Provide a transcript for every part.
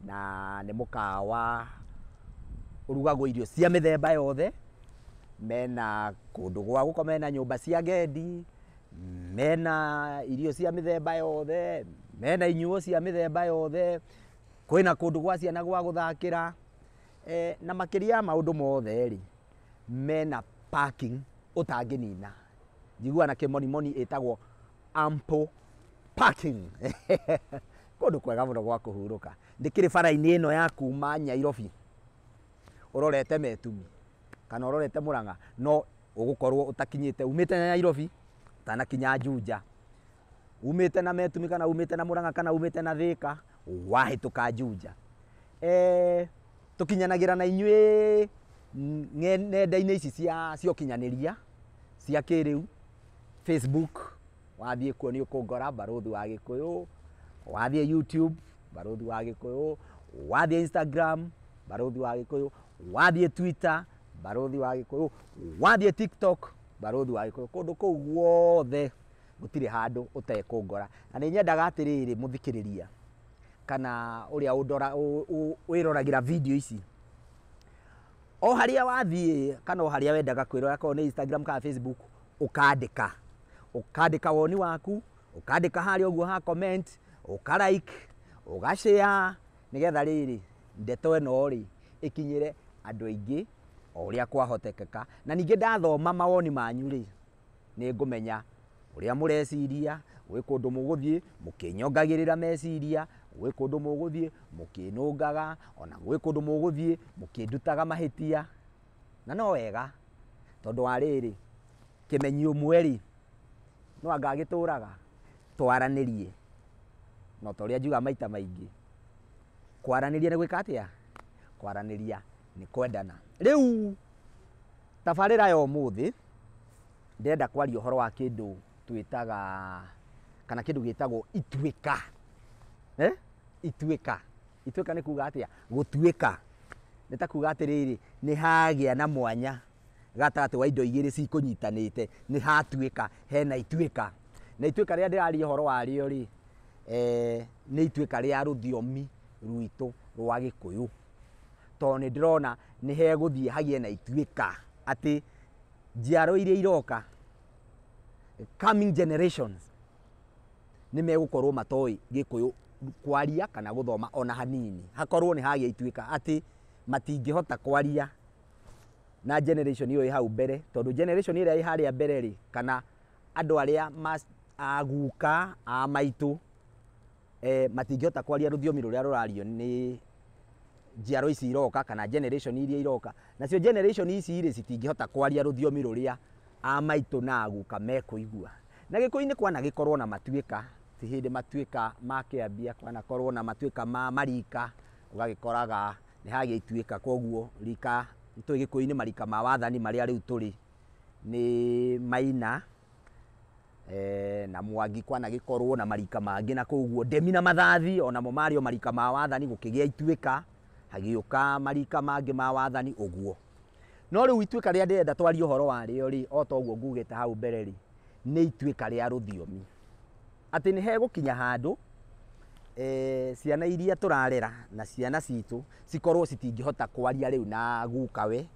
na nĩ mũkawa ũrugagwo irio cia mĩthemba yothe, mena kũndũ gwa gũkoma, mena nyũmba cia agendi, mena irio cia mĩthemba yothe, mena inyuo cia mĩthemba yothe, kwĩna kũndũ gwa ciana gwa gũthakĩra, na makĩria ya maũndũ mothe rĩ, mena parking ũtangĩnina. Njiguaga na kĩmonimoni ĩtagwo... ample parking kũndũ kwega mũno gwa kũhurũka ndĩkĩrĩ bara-inĩ ĩno ya kuma nyairobi ũrorete metumi kana ũrorete mũrang'a no ũgũkorwo ũtakinyĩte umĩte na nyairobi ũtanakinya njunja umĩte na metumi kana umĩte na mũrang'a kana umĩte na thĩka wahĩtũka njunja Eh, tũkinyanagĩra na inyuĩ mm, nge- nenda-inĩ ici cia cia ũkinyanĩria cia kĩrĩu, Facebook, wathiĩ kuo nĩ ũkũngora, Barũthi wa Gĩkũyũ, wathiĩ YouTube, Barũthi wa Gĩkũyũ, wathiĩ Instagram, Barũthi wa Gĩkũyũ, wathiĩ Twitter, Barũthi wa Gĩkũyũ, wathiĩ TikTok, Barũthi wa Gĩkũyũ, kũndũ kũu guothe gũtirĩ handũ ũtekũngora. Na nĩ nyendaga atĩrĩrĩ mũthikĩrĩria kana ũrĩa ũndora, wĩroragĩra video ici, o harĩa wathiĩ kana o harĩa wendaga kwĩrora korwo nĩ Instagram kana Facebook ũkandĩka ũkandĩka woni waku ũkandĩka harĩa ũguo ha comment ũka like ũga share nĩgetha rĩrĩ ndeto ĩno rĩ ĩkinyĩre andũ aingĩ o ũrĩa kwahotekeka na ningĩ ndathoma mawoni manyu rĩ nĩ ngũmenya ũrĩa mũreciria, gwĩ kũndũ mũgũthiĩ mũkĩnyongagĩrĩra meciria, gwĩ kũndũ mũgũthiĩ mũkĩnũngaga, o na gwĩ kũndũ mũgũthiĩ mũkĩndutaga mahĩtia. Na no wega tondũ wa rĩrĩ, kĩmenyi ũmwe rĩ, no anga agĩtũraga? Twaranĩrie. Na o ta ũrĩa njugaga maita maingĩ, kwaranĩria nĩ gwĩka atĩa? Kwaranĩria nĩ kwendana. Rĩu... Tabarĩra ya ũmũthĩ ndĩrenda kwaria ũhoro wa kĩndũ twĩtaga kana kĩndũ gĩtagwo ituĩka. Eh? Ituĩka. Ituĩka nĩ kuga atĩa? Gũtuĩka. Nĩ ta kuga atĩrĩrĩ, nĩ hagĩa na mwanya gatagatĩ wa indo igĩrĩ cikũnyitanĩte, nĩ hatuĩka, hena ituĩka. Na ituĩka rĩrĩa ndĩraria ũhoro warĩo rĩ, eh, nĩ ituĩka rĩa rũthiomi rwitũ rwa Gĩkũyũ. tondũ nĩ ndĩrona nĩ hegũthiĩ hagĩe na ituĩka atĩ njiaro iria iroka coming generations nĩ megũkorwo matoĩ gĩkũyũ kwaria kana gũthoma ona hanini hakorwo nĩ hagĩa ituĩka atĩ matingĩhota kwaria na generation ĩyo ĩ hau mbere tondũ generation ĩrĩa ĩ harĩa mbere rĩ kana andũ arĩa aguka a maitũ eh, matingĩhota kwaria rũthiomi rũrĩa rũrario nĩ njiaro ici iroka kana generation iria iroka nacio generation ici rĩ citingĩhota kwaria rũthiomi rũrĩa a maitũ na aguka mekũigua na gĩkũyũ-inĩ kwana gĩkorwo na matuĩka ti hĩndĩ matuĩka ma kĩambia kwana korwo na matuĩka ma marika ũgagĩkoraga nĩ hagĩa ituĩka koguo rika tũĩ gĩkũyũ-inĩ marika ma wathani marĩa rĩu tũrĩ nĩ maina Ee, na Mwangi kwanagĩkorwo na marika mangĩ na koguo ndemi na mathathi onamo marĩ o marika ma wathani gũkĩgĩa ituĩka hagĩũka marika mangĩ ma wathani ũguo no rĩu ituĩka rĩrĩa ndĩrenda twarie ũhoro warĩo rĩ o ta ũguo ngugĩte hau mbere rĩ nĩ ituĩka rĩa rũthiomi atĩ nĩ hegũkinya handũ eh, ciana iria tũrarera na ciana citũ cikorwo citingĩhota kwaria rĩu na gukawe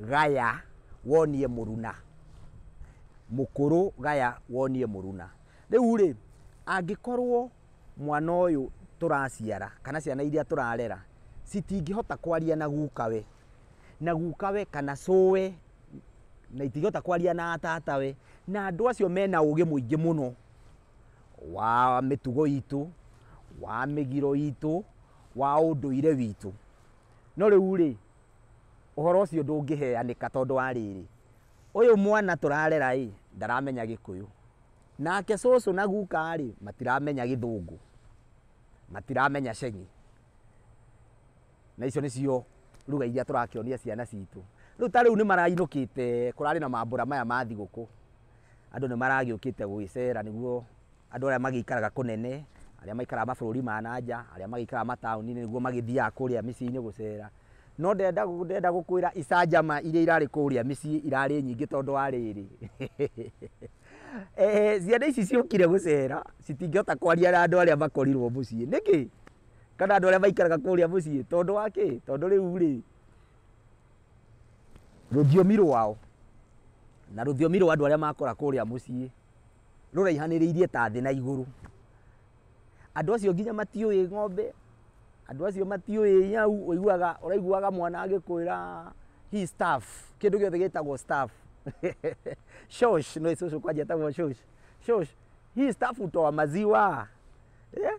Gaya wonie mũruna. Mũkũrũ gaya wonie mũruna. Rĩu rĩ, angĩkorwo mwana ũyũ tũraciara kana ciana iria tũrarera citingĩhota kwaria na gukawe, na gukawe kana cũũwe na itingĩhota kwaria na tatawe, na andũ acio mena ũgĩ mũingĩ mũno wa mĩtugo itũ, wa mĩgiro itũ, wa ũndũire witũ. No rĩu rĩ, Ũhoro ũcio ndũngĩheanĩka tondũ wa rĩrĩ, ũyũ mwana tũrarera-ĩ, ndaramenya gĩkũyũ, nake cũcũ na guka-rĩ, matiramenya gĩthũngũ, matiramenya ceng'i, na icio nĩcio lugha iria tũrakĩonia ciana citũ. Rĩu ta rĩu nĩmarainũkĩte, kũrarĩ na mambũra maya ma thigũkũ. Andũ nĩ maragĩũkĩte gũgĩcera nĩguo andũ arĩa magĩikaraga kũnene, arĩa maikaraga mabũrũri ma na nja, arĩa magĩikaraga mataũni-inĩ nĩguo magĩthiaga kũrĩa mĩciĩ-inĩ gũcera. No ndenda ndenda gũkwĩra icanjama iria irarĩ kũrĩa mĩciĩ irarĩ nyingĩ tondũ wa rĩrĩ, ciana ici ciokire gũcera, citingĩhota kwaria na andũ arĩa makorirwo mũciĩ. Nĩkĩ? Kana andũ arĩa maikaraga kũrĩa mũciĩ. Tondũ wa kĩ? Tondũ rĩu rĩ, rũthiomi rwao na rũthiomi rwa andũ arĩa makora kũrĩa mũciĩ rũraihanĩrĩirie ta thĩ na igũrũ andũ acio nginya matiũĩ ng'ombe andũ acio matiũĩ nyau ũiguaga ũraiguaga mwana agĩkwĩra hii staff kĩndũ gĩothe gĩtagwo staff shosh no cũcũ kwanja etagwo shosh shosh hii staff utoa maziwa yeah?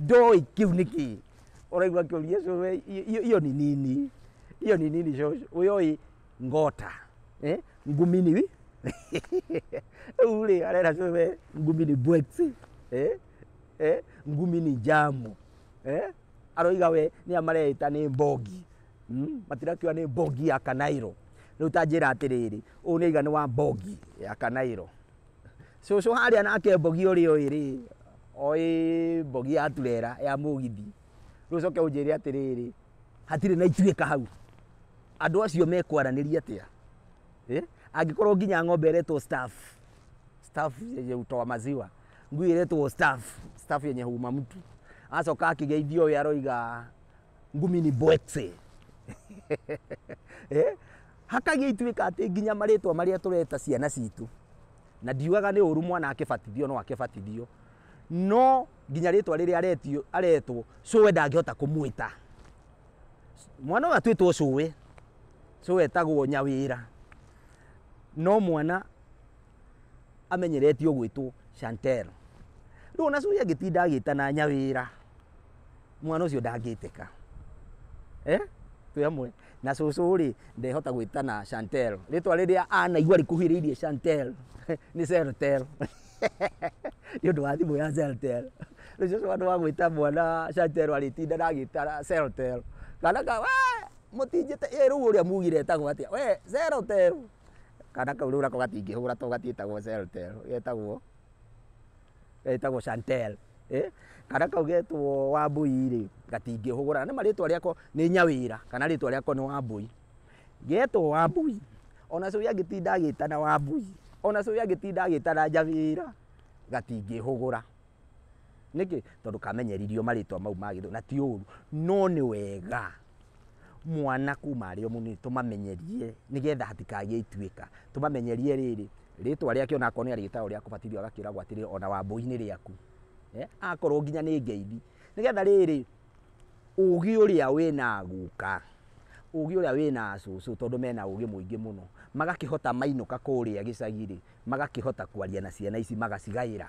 Ndoĩ kĩu nĩ kĩ. Ũraigua akĩũria cũcũ, "Eh, iyo- iyo iyo ni nini. Iyo ni nini cũcũ. Ũyũĩ ngota. Eh? Ngumi ni wi. Rĩu rĩ arera cũcũ, "Eh, ngumi ni bwexi. Eh? Eh? Ngumi ni jamu. Eh? Aroiga we nĩ amareĩta nĩ mbogi. Mm? Matirakiuga nĩ mbogi ya kanairo. Rĩu ta njĩra atĩrĩrĩ, ũyũ nĩ aiga nĩ wa mbogi ya kanairo. Cũcũ harĩa nake mbogi ũrĩ oĩ rĩ, oĩ mbogi ya turera ya mũgithi. Rĩu ũcoke ũnjĩre atĩrĩrĩ, hatirĩ na ituĩka hau. Andũ acio mekwaranĩria atĩa? Eh? Angĩkorwo nginya ng'ombe ĩretwo staff. Staff yenye hutoa maziwa. Ngui ĩretwo staff. Staff yenye huuma mtu. Acoka akĩgeithio ũyũ aroiga ngumi ni bwekse. Eh? Hakagia ituĩka atĩ nginya marĩtwa marĩa tũreta ciana citũ, na ndiugaga nĩ ũru mwana akĩbatithio no akĩbatithio, no nginya rĩtwa rĩrĩa aretio aretwo cũwe ndangĩhota kũmwĩta. Mwana ũyũ atuĩtwo cũwe, cũwe etagwo nyawĩra, no mwana amenyeretio gwĩtwo Chantel. Rĩu ona cũi angĩtinda agĩtana nyawĩra, mwana ũcio ndangĩtĩka. Eh? Twĩ hamwe. Na cũcũ rĩ, ndehota gwĩtana Chantel. Rĩtwa rĩrĩa anaigua rĩkuhĩrĩirie Chantel nĩ Celtel. Nĩ ũndũ wa thimũ ya Celtel. Rĩu cũcũ handũ wa gwĩta mwana Chantel arĩtinda na agĩtara Celtel. Kana ka, we, mũtinjĩte, ĩ rĩu ũrĩa mugire etagwo atĩa? We, Celtel. Kana kau rĩu nako gatingĩhũra tondũ gatiĩtagwo celtel, getagwo, getagwo chantel, kana kau getwo wambũi rĩ, gatingĩhũra, nĩ ma rĩtwa rĩako nĩ nyawĩra, kana rĩtwa rĩako nĩ wambũi. Getwo wambũi, o na cũĩ angĩtinda agĩtana wambũi, o na cũĩ angĩtinda agĩtana nyawĩra, gatingĩhũgũra. Nĩkĩ? Tondũ kamenyeririo marĩtwa mau ma gĩthũngũ, na ti ũru, no nĩ wega. Mwana kuma arĩ o mũnini tũmamenyerie nĩ getha hatikagĩe ituĩka. Tũmamenyerie rĩrĩ, rĩtwa rĩake o na akorwo nĩ arĩtagwo rĩa kũbatithio agakĩragwo atĩrĩrĩ o na Wambũi nĩ rĩaku. Akorwo nginya nĩ ngeithi. Nĩ getha rĩrĩ, ũgĩ ũrĩa wĩ na guka, ũgĩ ũrĩa wĩ na cũcũ tondũ mena ũgĩ mũingĩ mũno, magakĩhota mainũka kũrĩa gĩcagi-rĩ, magakĩhota kwaria na ciana ici magacigaĩra.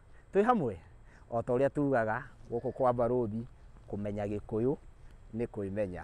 twĩ hamwe o ta ũrĩa tugaga gũkũ kwa mbarũthi kũmenya gĩkũyũ nĩ kwĩmenya.